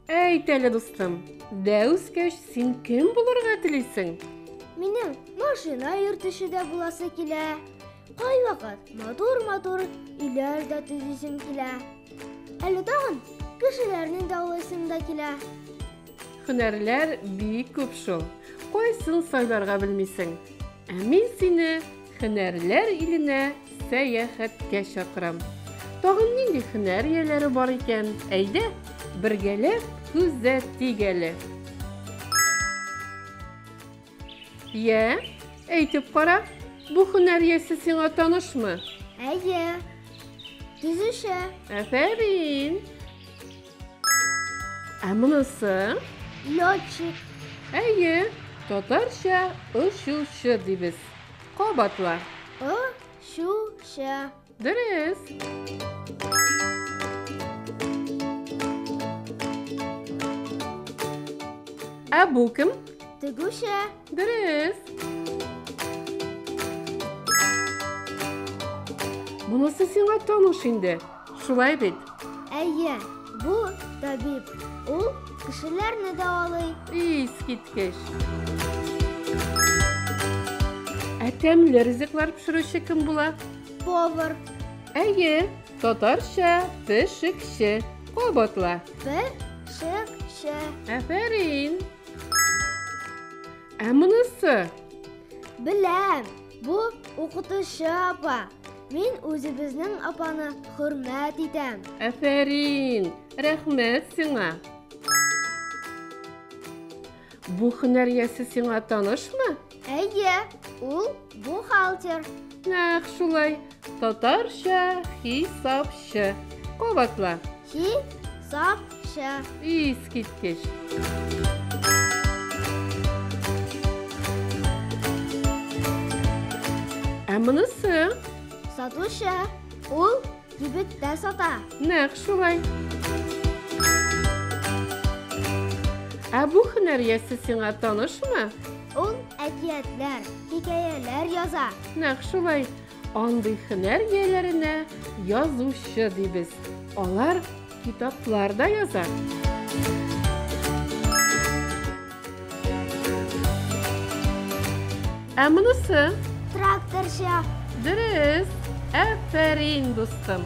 Әйт әле, дустым, дәүскәч син кем булырга телисең? Минем машина йөртүче дә буласы килә. Кайвакыт матур-матур өйләр дә төзисем килә. Әле тагын кешеләрне дауласым да килә. Хөнәрләр бик күп шул. Кайсын сайларга белмисең. Ә мин сине хөнәрләр иленә сәяхәткә чакырам. Тагын нинди хөнәр ияләре бар икән? Әйдә, бергәләп күзәтик әле. Йә, әйтеп кара, бу хөнәр иясе сиңа танышмы? Әйе. Төзүче. Афәрин! Ә монысы? Летчик. Әйе, татарча очучы дибез. Кабатла. Очучы. Дөрес. Ә бу кем? Тегүче. Дөрес. Монысы сиңа таныш инде. Шулай бит? Әйе, бу табиб. Ул кешеләрне дәвалый. Искиткеч. Ә тәмле ризыклар пешерүче кем була? Повар. Әйе, татарча пешекче. Кабатла. Пешекче. Әфәрин. Ә монысы? Беләм. Бу укытучы апа. Мин үзебезнең апаны хөрмәт итәм. Әфәрин! Рәхмәт сиңа! Бу һөнәр иясе сиңа танышмы? Әйе, ул бухгалтер. Нәкъ шулай. Татарча хисапчы. Кабатла. Хисапчы. Искиткеч. Ә монысы? Сатучы. Ул кибеттә сата. Нәкъ шулай. Ә бу һөнәр ясе сиңа танышмы? Ул әкиятләр, хикәяләр яза. Нәкъ шулай. Андый хөнәр ияләренә язучы дибез. Алар китаплар да яза. Ә монысы? Тракторчы. Дөрес. Әфәрин, дустым.